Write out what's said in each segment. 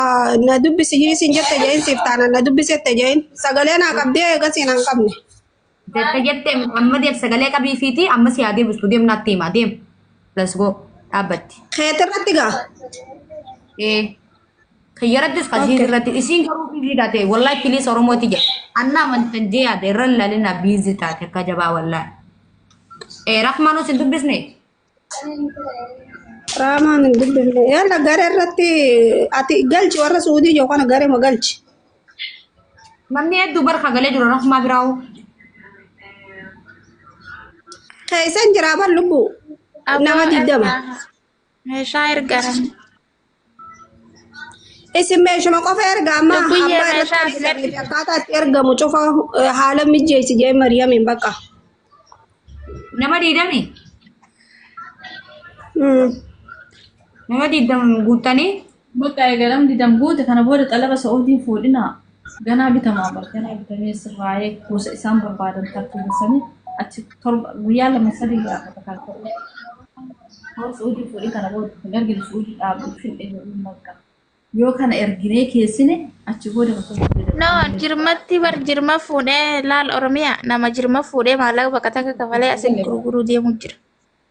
Ah, Na dubbisi hiisiin jette jeein siif taana na dubbisette jeein sagalee naa qabdee eegasii naan qabne. Jette jette amma deem sagalee qabii fiiti amma si haa deebistu deem naatti hima deem. Let's go dhaabbatti. Keetii irratti gaa. Eh, Kiyyarattis kan Okay. irratti isiin garuu biizii taate wallahi piliis oromooti jedhe. Anna amantan jee yaade irra lalina biizii taate akka jabaa wallahi. Eh, Rahmaanoo sin dubbisne? Raamaan hin dubbifne. Yalla gara irratti ati galchi warra suudii jiru kana gara ma galchi. Namni hedduu barka galee jiru rafumaa biraa hoo. Keessan jiraa bar lubbuu. Nama digdama. Meeshaa ergaran. Isin meeshuma qofa erga amma Lubbiyee abbaa irratti meeshaa hojii argate. lameef akkaataa itti ergamu cufa eh, haala mijeessi jee Mariyamiin bakka. Nama diidami. Mm. Nama diidami guuttanii. Bakka eegalam didam guute kana booda xalaba Sa'uudiin fuudhinaa. Ganaa bitamaa bar ganaa bitamee sirraa'ee gosa isaan barbaadan tartiibessanii achi torba guyyaa lama sadii irraa akka takkaan ta'uu. Hoo suudii fuudhii kana booda hin ergine suudii dhaabu hin dheebiin bakka. Yoo kana erginee keessine achi booda bakka hin jedhamu. No, jirmatti bar jirma fuudhee laal Oromiyaa nama jirma fuudhee maallaqa baqataka kafalee asitti gurguruu deemuu jira.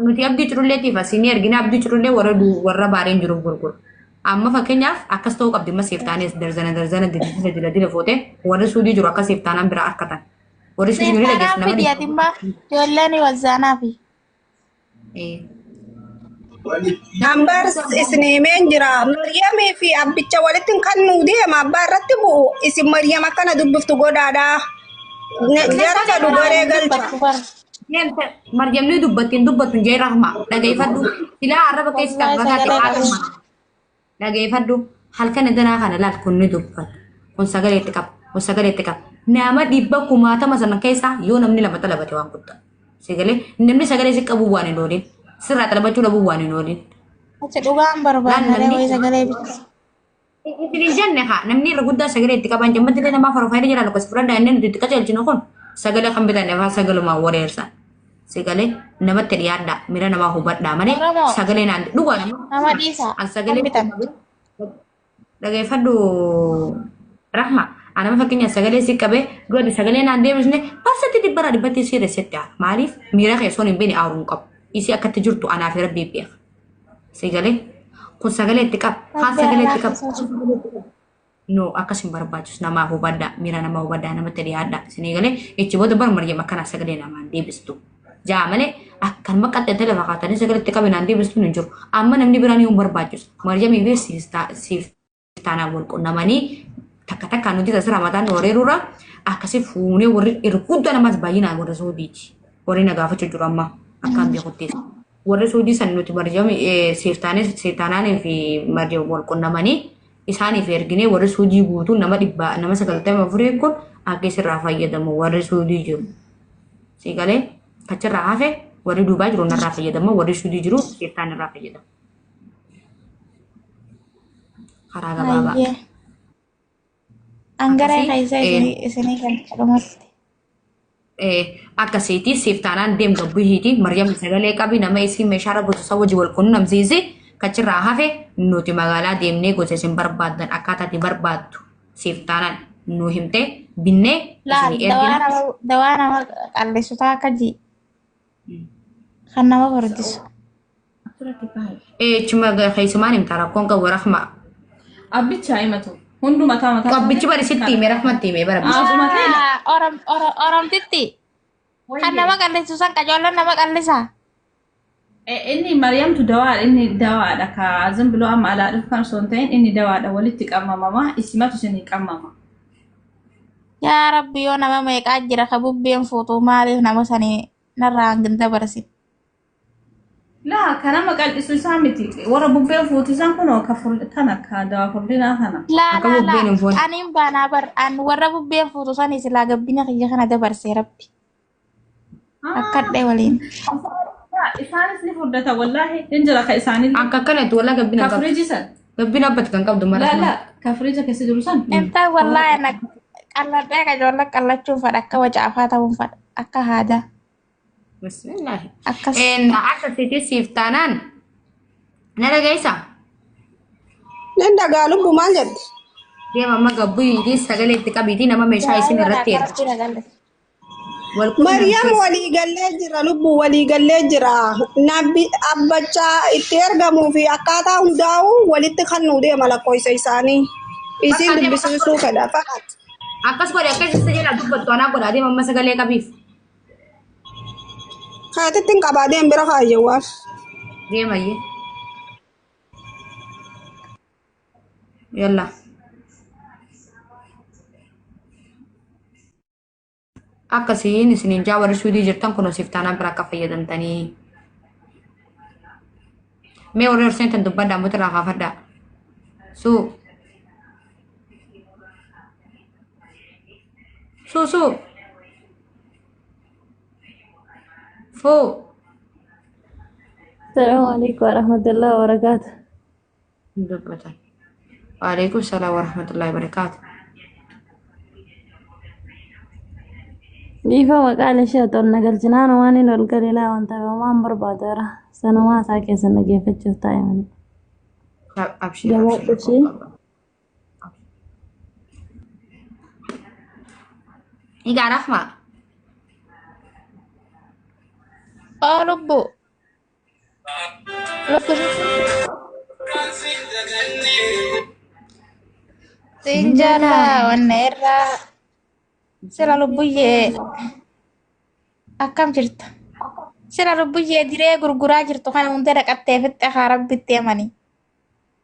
nuti abdii cululleetiif asii ni ergina abdii culullee warra du- warra baareen jiruuf gurguru. Amma fakkeenyaaf akkas ta'uu qabdi amma siif taanees darzana darzana didisisa dila dila footee warri suudii jiru akka siif taanaan biraa harkatan. Warri suudii jiru dhageessu Seeftaanaa fidi ati immoo ijoolleen wazzaanaa fi. Ambar isin himeen jira. Maryamii fi abbicha walitti kan nu deema abbaa irratti bu'u isin Maryam akkana dubbiftu godhaadha. Jarta dubaree galcha. Deemte Maryamni dubbatti hin dubbattu hin jee rahma dhageeffadhu silaa arraba keessa kan fagaate faatuma dhageeffadhu halkan danaa kana laal kun ni dubbata kun sagalee itti qaba kun sagalee itti qaba nama dhibba kumaatama sana keessaa yoo namni lama xalabate waan guddaa sagalee namni sagalee si qabu waan hin oolin sirraa xalabachuu dhabuu waan hin oolin Achi dhugaan barbaadna Laal namni- reewee sagalee bicha. Isiniif jenne haa namni irra guddaa sagalee itti qaban jammatti illee namaa farfaayida jala lakkoofsa fudhadhaa inni nuti itti qajeelchinu kun sagalee kan bitanne faa sagalumaan wareersan. Sagalee namatti dhiyaadhaa miira namaa hubadhaa malee Oromoo. sagalee naan dhugaa Nama dhiisaa. an sagalee Kan bitan. dhageeffadhu rahma anama fakkeenyaaf sagalee si qabee duratti sagalee naan deebisne barsatti dhibbara dhibbatti si resetti hafa maaliif miira kee soon hin beekne aaruu hin qabu isii akkatti jirtu anaa fi rabbii beeka. Si galee? Kun sagalee itti qaba. Kaan Abbaa sagalee itti qaba. laaffisaa. No, akkas hin barbaachisu. Namaa hubadhaa. Miira namaa hubadhaa. Namatti dhiyaadhaa. Isinii galee ichi booda bar Maryam akkanaa sagalee namaa hin deebistu. Ja'a malee akkanuma qaxxeettee lafa kaatanii sagalee itti qabinaan deebistuun hin jiru. Amma namni biraan yoo hin barbaachisu. Maryamii fi siif taa- siif taanaan wal qunnamanii takka takka nuti tasir hamataan nu wareerurra akkasii fuunee warri erguudda namaas baay'inaan warra suudiiti. Warri na gaafachuu jiru amma akkaan beekuttis. Warri suudii san nuti marjama seeftaanis seetaanaanii fi marjama wal qunnamanii isaaniif erginee warri suudii guutuun nama dhibba nama sagaltama afurii kun akka isirraa fayyadamu warri suudii jiru. Siigalee kachirraa hafe warri duubaa jiru narraa fayyadama warri suudii jiru seeftaan irraa fayyadama. karaa gabaabaa Hayyee. Angaree Akkasii, keessa eh. isinii isinii kan dhumatti. Eh, akkasiiti siif taanaan deem gabbihiiti maryam sagalee qabi nama isii meeshaarra gososa wajji wal qunnamsiisi kachirraa hafe nuti magaalaa deemnee gosa isin barbaaddan akkaataa itti barbaaddu siif taanaan nu himte binnee Laal isinii dawaa ergina nama dawaa nama qalleessutaa akka ji Kan nama furdisu. Asirratti kaa'e. Ee chuma keessumaan himta rakkoon qabu rahma. Abbicha himatu. Hundu mataa mataa. Qabbichi bari sitti hime rahmatti hime bara. Asuma ta'e. Ah, Orom Orom Oromtitti. Kan nama qallisu san qajoollan nama qallisa. Eh, Inni Maryamtu dawaadha. Inni dawaadha. Ka azin biloo amma alaa dhufu kan osoo hin ta'in inni dawaadha. Walitti qabamama. Isimatu isinii qabama. Yaa rabbi yoo nama meeqaa jira ka bubbeen fuutuu maaliif nama sanii narraa hangin dabarsin. Laa kan nama qal'isu isaa miti. Warra bubbeen fuutisan kunoo ka ful- kana ka dawaa furdinaa kana. Laa Akka laa bubbeen hin laa fuune. aniin baanaa bar an warra bubbeen fuutu sanii silaa gabbina kiyya kana dabarsee rabbi. Akkadhe waliin. Isaanis ni furdata wallaahi hin jira ka isaanii. Akka akkanatti walaa gabbina Ka qabdu. firiijii san. Gabbina abbatti kan qabdu mara. Laala ka firiija keessa jiru san. Intaa wallaahi ana qalladhee ka ijoollee qallachuun fadha akka wacaafaa ta'uun fadha akka haadaa Bismillaahi. akkas. Een, Akka sitii siif taanaan na dhageessa. Nan dhagaa lubbu maal jette? Deema amma gabbuu sagalee itti qabiitii nama meeshaa isin irratti erga. Rakkina galle. Maryam walii gallee jira lubbu walii gallee jira nabbi abbachaa itti ergamuu fi akkaataa hundaa'u walitti kan nuu deema lakkoofsa isaanii isiin Bakka dubbisiisuu fedha fa'aat. Akkas godhe akkas isa jedha dubbattu anaa godha adeema amma sagalee qabiif. Kaatittiin qabaa deem bira kaayyeewwaaf. Deemayyee. Yalla. akkasiin isiniin jaa warri suudii jirtan kunoo siif taanaan bira akka fayyadamtanii mee warri horseen tan dubbadhaa muti irraa kaafadhaa suu suu suu fuu Assalamu alaikum warahmatullahi wabarakatuh. hin dubbatan. Waalaikum salaam warahmatullahi wabarakaatu. Dhiifama maqaan ishee otoo na galchinaan waan hin ol galilaa waan ta'eef waan barbaadu irra sanumaa isaa keessa dhaggeeffachuuf taa'e malee. Abshir Jabaadhu abshir. ishee. Egaa rafmaa. Aa lubbuu. Siin jaalaa wanna irraa sila lubbuyyee akkam jirta? Sila lubbuyyee diree gurguraa jirtu kana hundee dhaqattee fixxe haa rabbitti amani.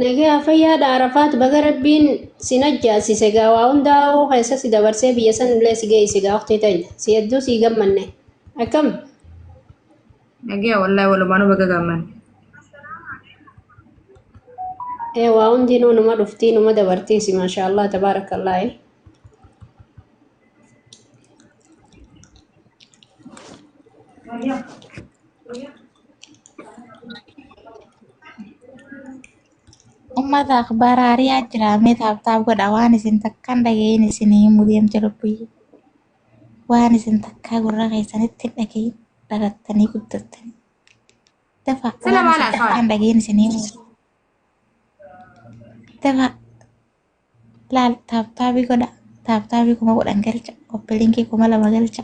Nagayaa fayyaa dha Arafaat baga rabbiin si najjaasise gaa waa hundaa hawoo keessa si dabarsee biyya san illee si geeyse gaa uktii tanya si hedduu sii gammanne akkam Nagaya wallahi walumaanu baga gaamman. ee waa hundinuu numa dhuftii numa dabartiisi maashaallah tabaarakallaahi Ummata akbaara ari'aa jira mee taaptaap godha waan isin takkaan dhaga'iin isin hin mudeemte lubbuyyu. Waan isin takkaa gurra keessanitti hin dhaga'iin dhalattanii guddattanii. Dafa Sila waan maal isin haasawaa? takkaan dhaga'iin isin hin mudeemte. Dafa laal taaptaabii godha taaptaabii kuma godhan galcha koppilinkii kuma lama galcha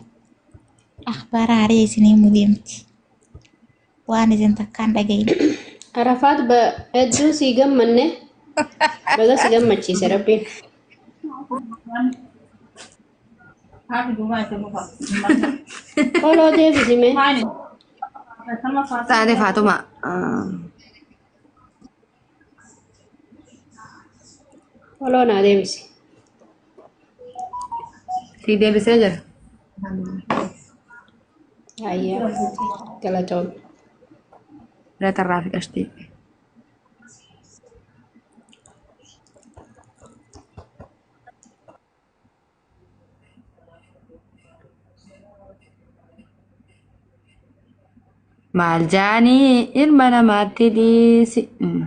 akhbaara haree isinii mudeemti waan isin takkaan dhagayin Arafaat ba- hedduu sii gammanne baga si gammachiise rabbiin. Haati duumaa itti muka. Koloo deebisime. Maali? Akkasuma faatu. Taate Faatuma. ah, Foloo naa deebisi. Sii deebisee jira. Hayyee galatoom. Reeta irraa fi qashtii. Maal jaanii ilma namaatti dhiisi. Mm.